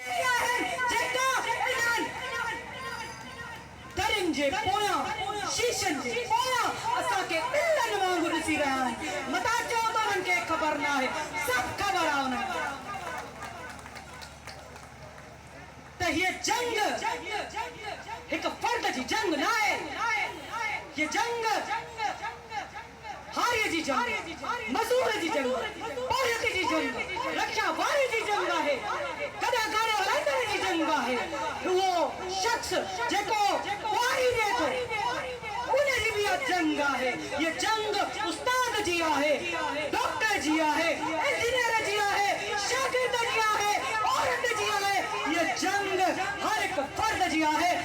اهي آهن جيڪا انهن درين جي پويان، شيشن جي پويان، اسان کي ٻلن وانگر ڏسي رهيا آهن. متان چئو ته انهن کي خبر نه آهي، سڀ خبر آهي انهن کي ته هيء جنگ هڪ فرد جي جنگ ناهي، هيء جنگ. هاريء جي جنگ، مزور جي جنگ، پورهيت جي جنگ، رڪشا واري جي جنگ آهي، ڪڏهن گاڏي هلائيندڙ جي جنگ به آهي. اهو شخص جيڪو ڪهاڙي ڏئي ٿو، ان جي به اها جنگ آهي. هيء جنگ استاد جي آهي، ڊاڪٽر جي آهي، انجنيئر جي آهي، شاگرد جي آهي، عورت جي آهي. هيء جنگ هر هڪ فرد جي آهي.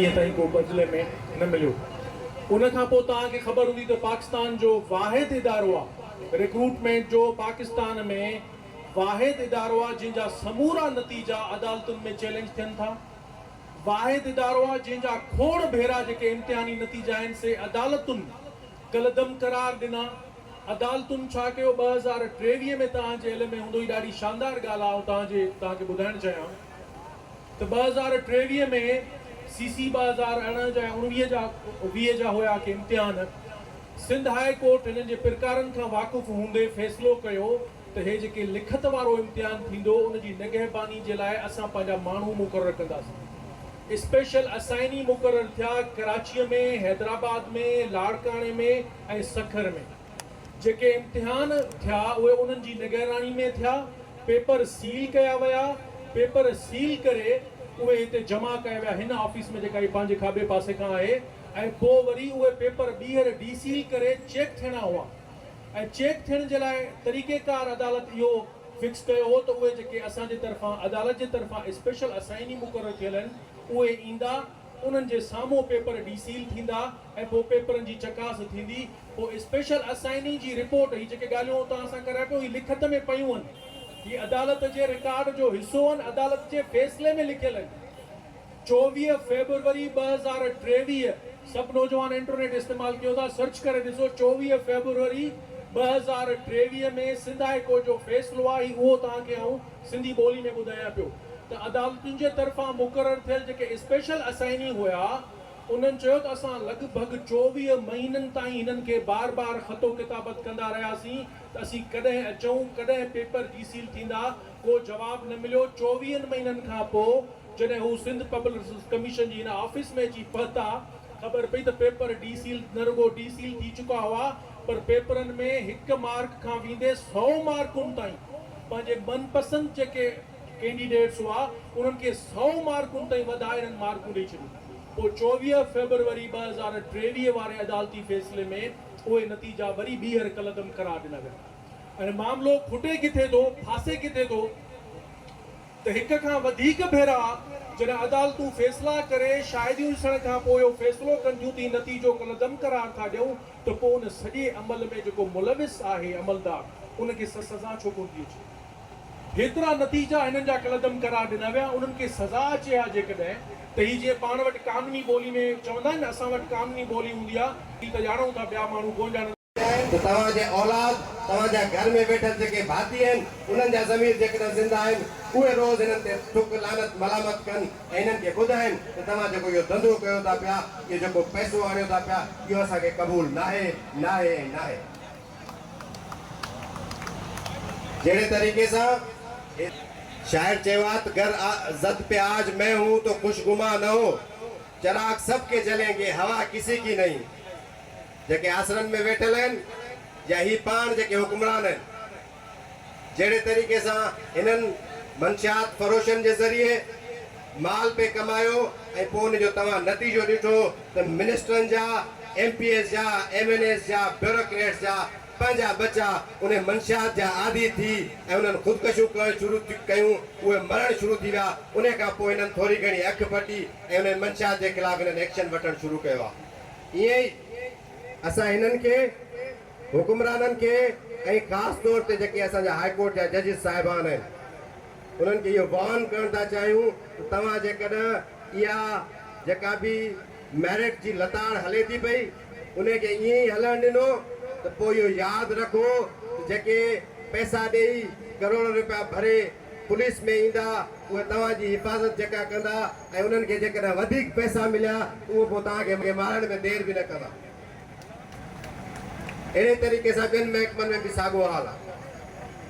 اڄ تائين ڪو بدلي ۾ نه مليو. ان کان پوء توهان کي خبر هوندي ته پاڪستان جو واحد ادارو آ رڪروٽمينٽ جو پاڪستان ۾ واحد ادارو آ جنهن جا سمورا نتيجا عدالتن ۾ چيلينج ٿين ٿا واحد ادارو آ جنهن جا کوڙ ڀيرا جيڪي امتحاني نتيجا آهن سي عدالتن ڪلعدم قرار ڏنا عدالتن ڇا ڪيو ٻه هزار ٽيويهه ۾ توهان جي علم ۾ هوندو هي ڏاڍي شاندار ڳالهه آئون توهان جي توهان کي ٻڌائڻ چاهيان ته ٻه هزار ٽيويهه ۾ سي سي ٻه هزار ارڙهن جا ۽ اوڻويهه جا ويهه جا هيا ڪي امتحان، سنڌ هاء ڪورٽ هنن جي پرڪارن کان واقف هوندي فيصلو ڪيو ته هي جيڪي لکت وارو امتحان ٿيندو ان جي نگهباني جي لاء اسان پنهنجا ماڻهو مقرر ڪنداسين اسپيشل اسائني مقرر ٿيا ڪراچيء ۾ حيدرآباد ۾ لاڙڪاڻي ۾ ۽ سکر ۾. جيڪي امتحان ٿيا اهي انهن جي نگهراڻي ۾ ٿيا، پيپر سيل ڪيا ويا، پيپر سيل ڪري اهي هتي جمع ڪيا ويا هن آفيس ۾ جيڪا هي پنهنجي کاٻي پاسي کان آهي ۽ پوء وري اهي پيپر ٻيهر ڊي سيل ڪري چيڪ ٿيڻا هئا ۽ چيڪ ٿيڻ جي لاء طريقيڪار عدالت اهو فڪس ڪيو هو ته اهي جيڪي اسان جي طرفان عدالت جي طرفان اسپيشل اسائيني مقرر ٿيل آهن اهي ايندا انهن جي سامهون پيپر ڊي سيل ٿيندا ۽ پوء پيپرن جي چڪاس ٿيندي. پوء اسپيشل اسائيني جي رپورٽ، هي جيڪي ڳالهيون آئون توهان سان ڪريان پيو، هي لکت ۾ پيون آهن. هي عدالت جي رڪارڊ جو حصو آهن، عدالت جي فيصلي ۾ لکيل آهن. چوويهه فيبروري ٻه هزار ٽيويهه، سڀ نوجوان انٽرنيٽ استعمال ڪيو ٿا، سرچ ڪري ڏسو، چوويهه فيبروري ٻه هزار ٽيويهه ۾ سنڌ هاء ڪورٽ جو فيصلو آهي، اهو توهان کي آئون سنڌي ٻولي ۾ ٻڌايان پيو ته عدالتن جي طرفان مقرر ٿيل جيڪي اسپيشل اسائيني هيا انهن چيو ته اسان لڳ ڀڳ چوويهه مهينن تائين هنن کي بار بار خط و ڪتابت ڪندا رهياسين ته اسين ڪڏهن اچون ڪڏهن پيپر ڊي سيل ٿيندا ڪو جواب نه مليو چوويهن مهينن کان پو جڏهن هو سنڌ پبلڪ ڪميشن جي هن آفيس ۾ اچي پهتا خبر پئي ته پيپر ڊي سيل نه رڳو ڊي سيل ٿي چڪا هئا پر پيپرن ۾ هڪ مارڪ کان ويندي سؤ مارڪن تائين پنهنجي من پسند جيڪي ڪينڊيڊيٽس هئا انهن کي سؤ مارڪن تائين وڌائي انهن مارڪون ڏئي ڇڏيون پوء چوويهه فيبروري ٻه هزار ٽيويهه واري عدالتي فيصلي ۾ اهي نتيجا وري ٻيهر ڪلعدم قرار ڏنا ويا ۽ معاملو کٽي ڪٿي ٿو ڦاسي ڪٿي ٿو. ته هڪ کان وڌيڪ ڀيرا جڏهن عدالتون فيصلا ڪري شاهديون ڏسڻ کان پوء اهو فيصلو ڪن ٿيون ته هي نتيجو ڪلعدم قرار ٿا ڏيون ته پوء ان سڄي عمل ۾ جيڪو ملوث آهي عملدار ان کي سزا ڇو ڪونه ٿي اچي؟ هيترا نتيجا هنن جا ڪلعدم قرار ڏنا ويا انهن کي سزا اچي ها جيڪڏهن ته هي جيئن پاڻ وٽ قانوني ٻولي ۾ چوندا آهن نه اسان وٽ قانوني ٻولي هوندي آهي هي ته ڄاڻون ٿا ٻيا ماڻهو ڪونه ڄاڻن. آهي ته توهان جي اولاد، توهان جا گهر ۾ ويٺل جيڪي ڀاتي آهن، انهن جا ضمير جيڪڏهن زنده آهن، اهي روز هنن تي ٿڪ، لعنت، ملامت ڪن ۽ هنن کي ٻڌائن ته توهان جيڪو اهو ڌنڌو ڪيو ٿا پيا، اهو جيڪو پئسو آڻيو ٿا پيا، اهو اسان کي قبول ناهي، ناهي ۽ ناهي. جهڙي طريقي سان هي. شاعر چيو آهي ته گر آ زد پي آج مين هون تو خوش گمان نه هو، چراغ سڀ ڪي جلين گي، هوا ڪسي ڪي نهين. جيڪي آسرن ۾ ويٺل آهن يا هي پاڻ جيڪي حڪمران آهن جهڙي طريقي سان هنن منشيات فروشن جي ذريعي مال پئي ڪمايو ۽ پوء ان جو توهان نتيجو ڏٺو ته منسٽرن جا ايم پي ايز جا ايم اين ايز جا بيوروڪريٽس جا پنهنجا ٻچا انهي منشيات جا عادي ٿي ۽ انهن خودڪشيون ڪرڻ شروع ڪيون اهي مرڻ شروع ٿي ويا انهي کان پوء هنن ٿوري گهڻي اک ڦٽي ۽ انهي منشيات جي خلاف هنن ايڪشن وٺڻ شروع ڪيو آهي. ائين ئي اسان هنن کي حڪمرانن کي ۽ خاص طور تي جيڪي اسان جا هاء ڪورٽ جا ججز صاحبان آهن انهن کي اهو وارن ڪرڻ ٿا چاهيون ته توهان جيڪڏهن اها جيڪا به ميرٽ جي لتاڙ هلي ٿي پئي انهي کي ائين ئي هلڻ ڏنو ته پوء اهو ياد رکو ته جيڪي پئسا ڏئي ڪروڙن رپيا ڀري پوليس ۾ ايندا اهي توهان جي حفاظت جيڪا ڪندا ۽ انهن کي جيڪڏهن وڌيڪ پئسا مليا اهو پوء توهان کي مارڻ ۾ دير به نه ڪندا. اهڙي طريقي سان ٻين محڪمن ۾ به ساڳو حال آهي.